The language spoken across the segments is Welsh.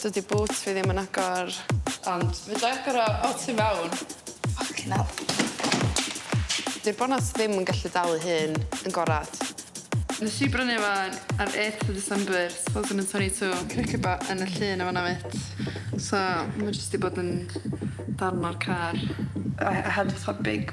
Dydi bŵt fi ddim yn agor. Ond fedra i agor o o tu fewn. Ffycin ell. Di'r bonat ddim yn gallu dal ei hun yn gorad. Nes i brynu fo ar eighth of December two thousand and twenty two. Cric y ba yn y llun yn fanna mêt. So ma' jyst 'di bod yn darn o'r car. I I had fatha big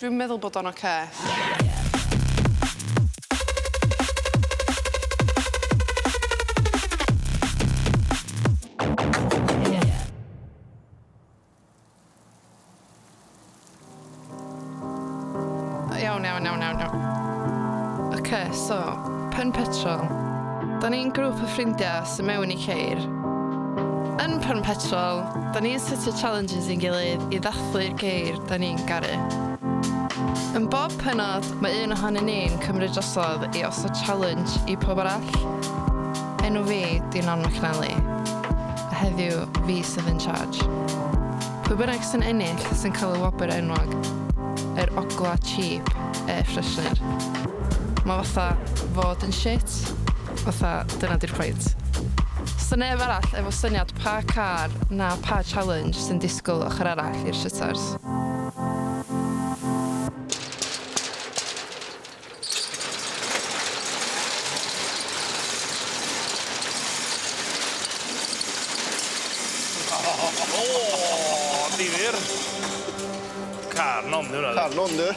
Dwi'n meddwl bod o'n ocê. Iawn, iawn, iawn, iawn, iawn. Oce, okay, so, pen petrol. Da ni'n grŵp o ffrindiau sy'n mewn i ceir. Yn pen petrol, da ni'n setio challenges i'n gilydd i ddathlu'r ceir. 'da ni'n garu. Yn bob pennod, mae un ohonyn ni'n cymryd drosodd i osod challenge i pawb arall. Enw fi 'di Non McNally, a heddiw fi sydd in charge. Pwy bynnag sy'n ennill sy'n cael y wobr enwog, yr ogla' cheap air freshener. Mae fatha fod yn shit. fatha dyna 'di'r pwynt. Does 'na neb arall efo syniad pa car na pa challenge sy'n disgwyl ochr arall i'r shutters. Difyr. Car nondir oedd e. Car nondir.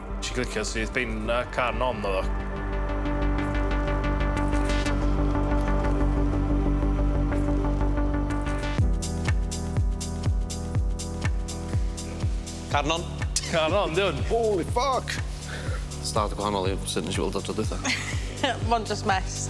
Nes i glicio syth bin a can on oedd o. Carnon. Carnon, di hwn. Holy fuck! Stad gwahanol i sut nes i weld o tro dwytha. Mon just mess.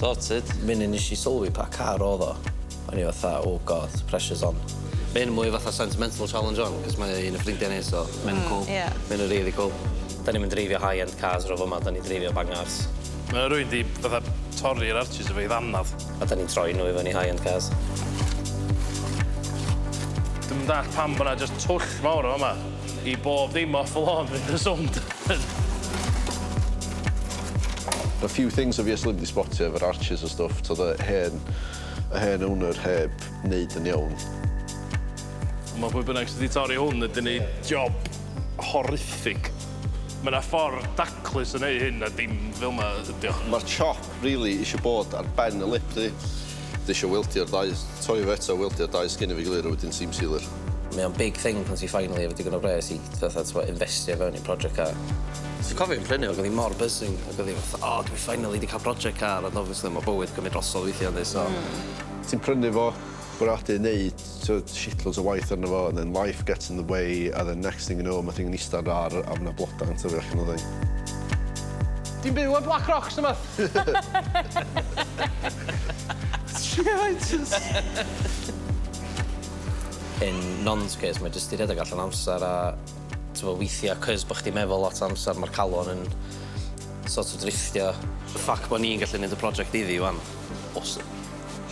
Sorted. Munud nes i sylwi pa car odd o, o'n i fatha oh god, pressure's on. Ma' hyn yn mwy fatha sentimental challenge wan, cos mae un o ffrindia ni so ma' hyn yn cŵl. Ie. Ma' hyn yn rili cŵl. Da ni'm yn dreifio high end cars ro fama, da ni'n dreifio bangars. Ma' rywun 'di fatha torri'r arches efo'i ddanadd. A da ni'n troi nhw i fyny high end cars. Dwi'm yn dallt pam bo 'na jyst twll mawr yn fama. I bob dim off the lawn fydd y sownd yn. A few things obviously fi 'di sbotio efo'r arches a stwff t'od y hen y hen owner heb neud yn iawn. Ond ma' pwy bynnag sy 'di torri hwn yn neud job horrific. Ma' 'na ffor daclus o neu' hyn a dim fel 'ma ydi o. Ma'r chop rili isio bod ar ben y lip di. Dwi isio wildio'r ddau, torri fo eto, wildio'r dau sgin efo'i gilydd a wedyn seam sealer. Mae o'n big thing pan ti finally efo digon o bres i fatha t'mo' infestio i fewn i project car. Dwi'n cofio fi'n prynu o ag o'n i mor buzzing ag o'n i fatha o dwi finally 'di ca'l project car ond obviously ma' bywyd cymyd drosodd weithia yndi so... Hmm. ...ti'n prynu fo bwriadu neud t'od shitloads o waith arno fo and then life gets in the way a then next thing you know ma' thing yn ista ar yr ar' a ma' 'na bloda yn tyfu allan o thing. Ti'n byw ar Black Rocks neu wbath? Shit! In Non's case mae jyst 'di rhedeg allan o amser a t'mo' weithia' 'c'os bo' chdi'n meddwl lot o amser ma'r calon yn sort of drifftio. Y fact bo' ni'n gallu neud y project iddi 'wan, awesome.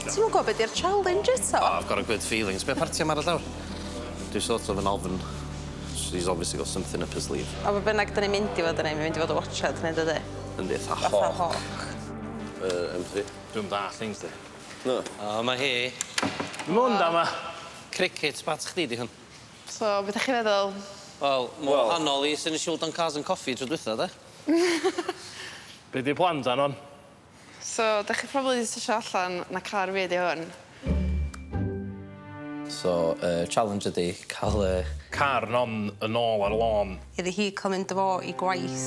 Ti'm yn gwbo be' 'di'r challenge eto. Oh I've got a good feelings. Be' parti am aros lawr? Dwi sort of yn ofn. She's obviously got something up her sleeve. A be' bynnag 'dan ni'n mynd i fod yn neud mae mynd i fod y' watsiad neu dydi? Yndi fatha hawk. Fatha hawk. Yy M3. Dwi'm dall things 'di. Na. O 'ma hi. Helo. da 'ma. Crickets bat chdi 'di hwn. So be' 'dach chi feddwl? Wel ma' wahanol i swn i isio weld o'n cars and coffi tro dwetha 'de? Be' 'di plan dan 'wan? So 'dach chi probably 'di sesio allan na car fi ydi hwn. So y challenge ydi ca'l y... Car non yn ôl ar y lôn. Iddi hi ca'l mynd â fo i gwaith.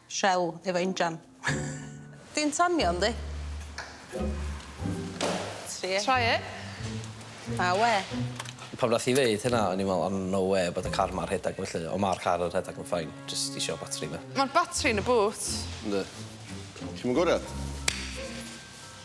Shell efo injan. Di'n tanio yndi? Try it. Try it. Na we. Pan nath hi ddeud hynna o'n i'n me'wl o no wê bod y car 'ma rhedag felly on' ma'r car yn rhedag ma'n fine jyst isio batri 'ma. Ma'r batri yn y boot. Yndi. Chi'm yn goriad?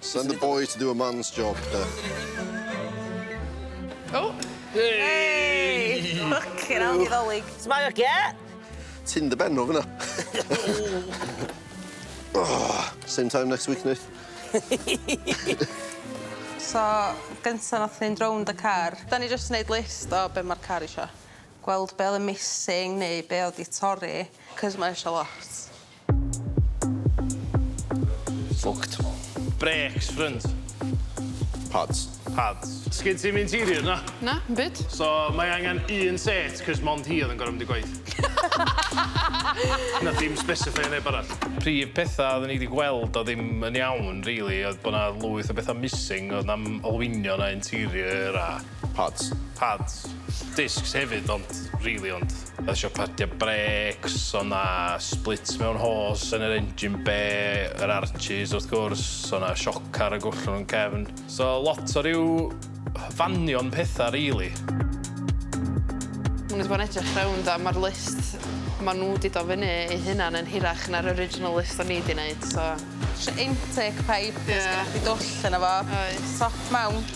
Send a boy to do a man's job, de. O! Hei! Ffycin hell, ni ddolig. Smile, cat! Ti'n dy ben o fyna. Same time next week, Nith. So, gynta nath ni'n rownd y car. Da ni jyst neud list o be' ma'r car isio. Gweld be' o'dd yn missing neu be' o'dd 'di torri, 'c'os ma' isio lot. Fucked. Brakes, ffrynt. Pads. Pads. Sgin ti'm interior na? Na, 'm byd. So mae angen un set 'c'os mond hi oedd yn gor'o' mynd i gwaith. Nath hi'm sbesifeio neb arall. Prif petha odden ni 'di gweld o'dd ddim yn iawn rili oedd bo' 'na lwyth o betha missing o'dd 'na'm olwynion na interior a Pads. Pads. Discs hefyd ond rili ond. Oedd isio padio brêcs, oedd 'na splits mewn hos yn yr engine bay, yr arches wrth gwrs, oedd 'na sioc ar y gollwng yn cefn. So lot o ryw fanion petha rili. O'n i 'di bod yn edrych rownd a ma'r list ma' nhw 'di dod fyny eu hunan yn hirach na'r original list o'n i 'di neud so... Intake pipe... Ie. ...os gynnoch chdi dwll yno fo. Oes. Top mount.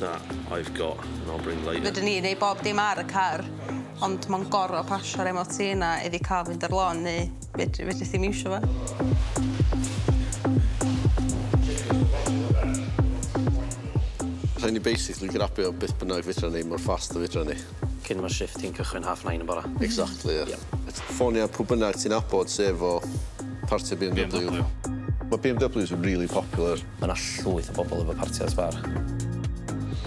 that I've got and I'll bring light. Fedrwn ni neud bob dim ar y car ond ma'n goro pasio'r MOT yna i fi ca'l mynd ar lôn neu fedri- fedrith di'm iwsio fo. Rhaid ni basically grabio beth bynnag fedran ni mor fast a fedran ni. Cyn ma shift ti'n cychwyn half nine yn bora. Exactly ie. Ie. Ffonia pw bynnag ti'n nabod sy efo parti BMW. BMW. Ma BMWs yn rili popular. Ma na llwyth o bobl efo parti ar sbar.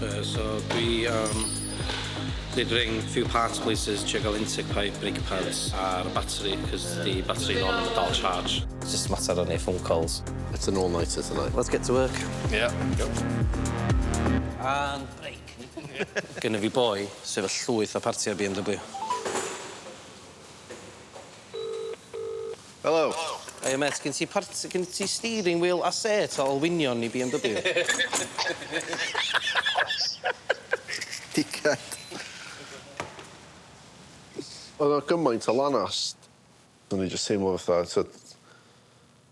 Yy so dwi yym did ring few parts places trio ga'l intake pipe, brake pads a'r batri cos di batri non efo dal charge. Jyst mater o neud phone calls. It's an all nighter tonight. Let's get to work. Ie. Go. And brake. Gynna fi boi sy efo llwyth o partia BMW. Helo. Hiya mêt, gin ti part- gin ti steering wheel a sêt o olwynion i BMW? Dickhead. O'dd o gymaint o lanast o'n i jyst teimlo fatha t'od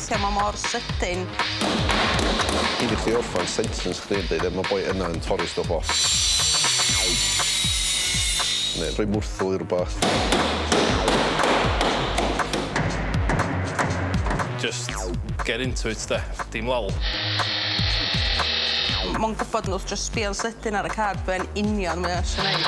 Lle mae mor sydyn. Cyn i chdi orffan sentence chdi yn deud e, mae boi yna yn torri stwff off. Neu rhoi mwrthwl i rwbath. Just get into it 'de, dim lol. Mae'n gwybod wrth jyst sbio'n sydyn ar y card be' yn union mae o isio neud.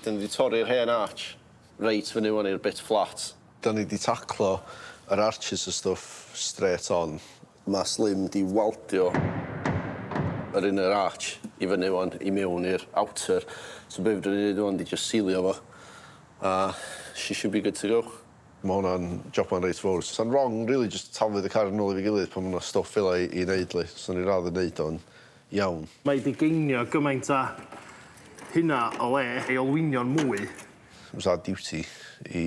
Dyn ni 'di torri'r hen arch reit fyny ŵan i'r bit flat. Dyn ni 'di taclo yr arches a stwff strêt on. Mae Slim 'di waldio yr inner arch i fyny ŵan i mewn i'r outer so be' fedrwn ni neud ŵan 'di jyst silio fo a she should be good to go. Ma' hwnna'n joban reit fowr. Sa'n rong rili jyst taflu'r car yn ôl efo'i gilydd pan ma' 'na stwff fela i i neud 'lly. Swn i'n radd yn neud o'n iawn. Mae 'di geinio gymaint a hynna o le ei olwynion mwy. Fasa duty i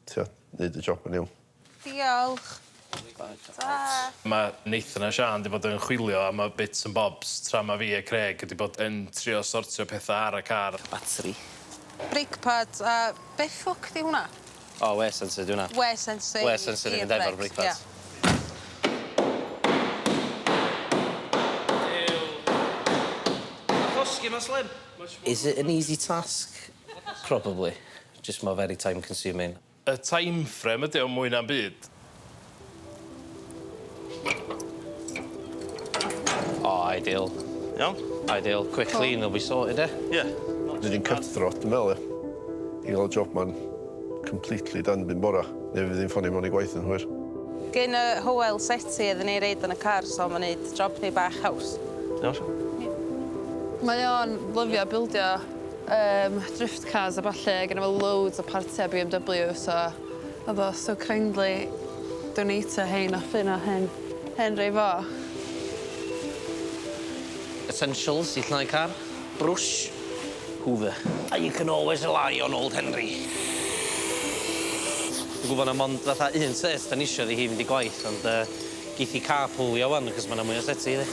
Trio neud y job yn iawn. Diolch. Tara. Ma Nathan a Siân 'di bod yn chwilio am y bits and bobs tra ma fi a Craig wedi bod yn trio sortio petha ar y car. Batri. Brake pads a be ffwc 'di hwnna? O wear sensor 'di hwnna. Wear sensor i i'r brêcs. Wear sensor i fynd efo'r brake pads. Ia. Is it an easy task? Probably. Jyst mor very time consuming. Y timeframe ydy o mwy na'm byd. O ideal. Iawn? Ideal. Quick clean and we'll be sorted ia? Ia. Dwi 'di cut throat dwi me'wl ia? I ga'l y job ma'n completely done 'byn bora. Neu fydd 'i'n ffonio mewn i gwaith yn hwyr. Gin y Hywel seti iddyn ni reid yn y car so ma'n neud job ni bach haws. Iawn. Mae o'n lyfio bildio. Yym drift cars a ballu a gynno fo loads o partia BMW so odd o so kindly donatio rhein off un o hen hen rei fo. Essentials i llnau car, brwsh, hoover. And you can always rely on old Henry. Dwi gwbo na mond fatha un set 'dan ni isio iddi hi fynd i gwaith ond yy Geith hi carpooio ŵan achos ma' 'na mwy o llety iddi.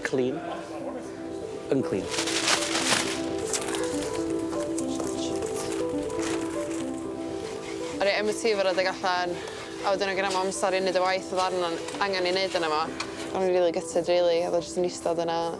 Clean. Unclean. O'n i MOT efo redeg allan a wedyn o' genna mam stori yn neud y waith o'dd arno angan 'i neud yno fo. O'n i'n rili gutted rili o'dd o jyst yn istad yna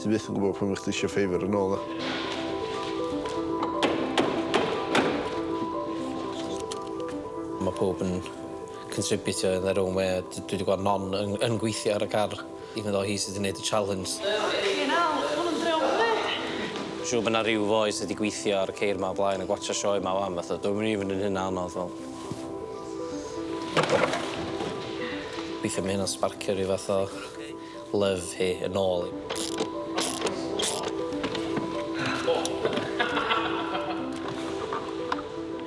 Ti byth yn gwybod pan fyddi chdi eisiau ffeifr yn ôl na? Mae pawb yn contributio in their own way a dwi 'di gweld Non yn yn gweithio ar y car even though hi sy 'di neud y challenge. Ffycin hell, ma' hwn yn dreo fyny! Siŵr bod 'na ryw foi sy 'di gweithio ar y ceir 'ma o blaen yn gwatsio sioe 'ma wan fatha dwi'm yn even yn hynna anodd fel. Weithia ma' hynna'n sbarcio ryw fath o Love hi yn ôl i.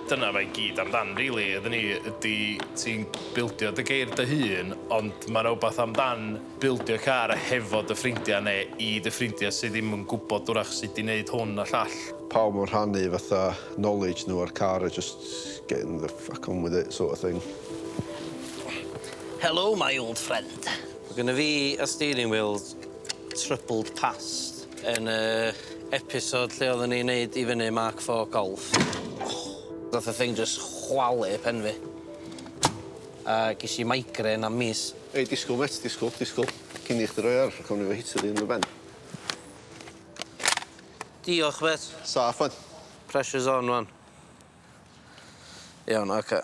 Dyna fe i gyd amdan rili iddyn ni ydy ti'n bildio dy geir dy hun ond ma' 'na wbath amdan bildio car hefo dy ffrindia ne' i dy ffrindia sy ddim yn gwbod 'w'rach sud i neud hwn a llall. Pawb yn rhannu fatha knowledge nhw a'r car a jyst getting the fuck on with it sort of thing. Helo my old friend. Mae gynna fi a steering wheel troubled past yn y episode lle oedden ni'n neud i fyny Mark IV Golf. Nath y thing jyst chwalu pen fi. A gesh i migraine am mis. Ei disgwl mêt disgwl disgwl. Cyn i chdi roi ar gawn ni efo hitio fi yn y ben. Diolch mêt. Saff ŵan. Pressure's on ŵan. Iawn oce.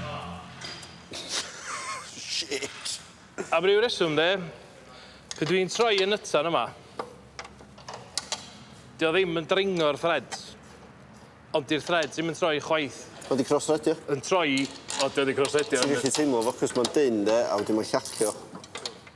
Shit. Am ryw reswm de, pe dwi'n troi y nytsan yma, 'di o ddim yn dringo'r threads, ond 'di'r threads ddim yn troi chwaith. O 'di cross-thredio? Yn troi, o 'di o 'di cross-thredio. Ti'n gallu teimlo fo 'c'os ma'n dynn de, a wedyn ma'n llacio.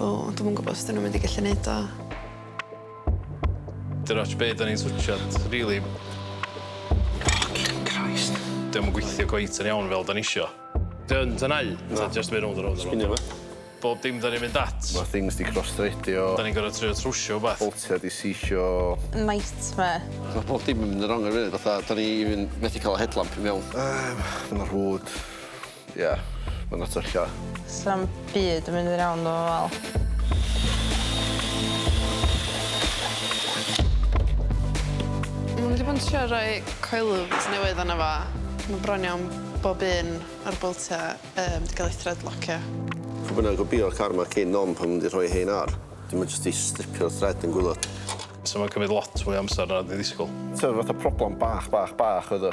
O, dwi'm yn gwybod os dyn nhw'n mynd i gallu neud o. Dyna ots be da ni'n switchad, really. Fucking Christ. Dyn nhw'n gweithio gweith yn iawn fel da ni isio. Dyn, dyn nau. Na. Just mynd rownd a rownd a rownd. Spinio Bob dim da ni'n mynd at. Mae things di cross-threadio. Da ni'n gorau trio trwsio o beth. Boltia di sisio. Nightmare. Mae bob dim yn mynd yn rong ar y funud, fatha, da ni even methu cael y headlamp i mewn. Um, mae rhwyd. Ie, ma'n atella. Sa'm byd yn mynd i'r iawn 'fo fo fel. Ma' nw 'di bod yn trio roi coils newydd arno fo. Ma' bron iawn bob un o'r boltia yym 'di ga'l eu threadlocio. Pw bynnag o bio'r car 'ma cyn nom pan ma' nw 'di rhoi rhein ar, 'dyn ma' jyst 'di stripio'r thread yn gwilod. So ma'n cymryd lot fwy o amsar na o'n i ddisgwl. T'o' fatha problem bach bach bach oedd o.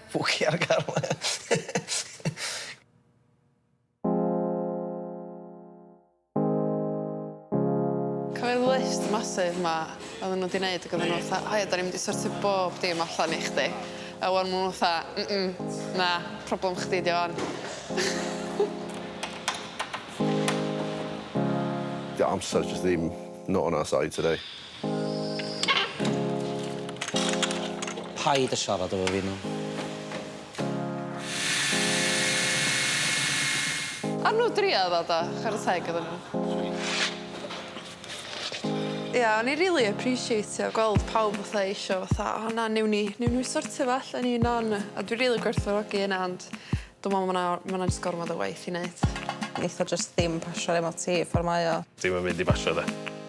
Pwci ar y carlan. Cofiwch y list massive 'ma oedden nhw 'di neud ac oedden nhw fatha 'O ia, 'dan ni'n mynd i sortio bob dim allan i chdi'. A 'wan ma' nhw fatha 'Mm mm, na, problem chdi 'di o 'wan'. Dyw amser jyst ddim not on our side today. Paid â siarad efo fi 'ma. Ar nw dria ddo do? Chwara teg iddyn nw. Sweet. Ia o'n i rili aprîsieitio gweld pawb fatha isio fatha o na newn ni newn ni sortio fo allan un on a dwi rili gwerthfawrogi hynna ond dwi me'wl ma' 'na ma' 'na jyst gormod o waith i neud. Neith o jyst ddim pasio ar MOT ffor mae o. Dim yn mynd i basio de.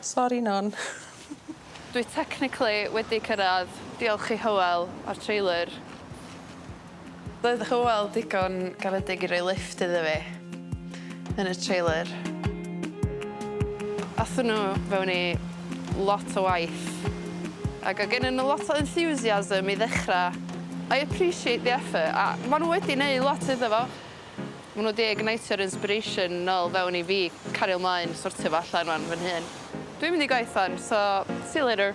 Sori Non. Dwi technically wedi cyrraedd, diolch i Hywel a'r trailer. Doedd Hywel digon garedig i roi lifft iddo fi. yn y trailer. Athon nhw fewn i lot o waith ac o' gennyn nhw lot o enthusiasm i ddechrau. I appreciate the effort a maen nhw wedi neud lot iddo fo. Maen nhw wedi ignitio'r inspiration nôl fewn i fi cario mlaen sortio fo allan rwan fy nhun. Dwi'n mynd i gwaith wan so see you later.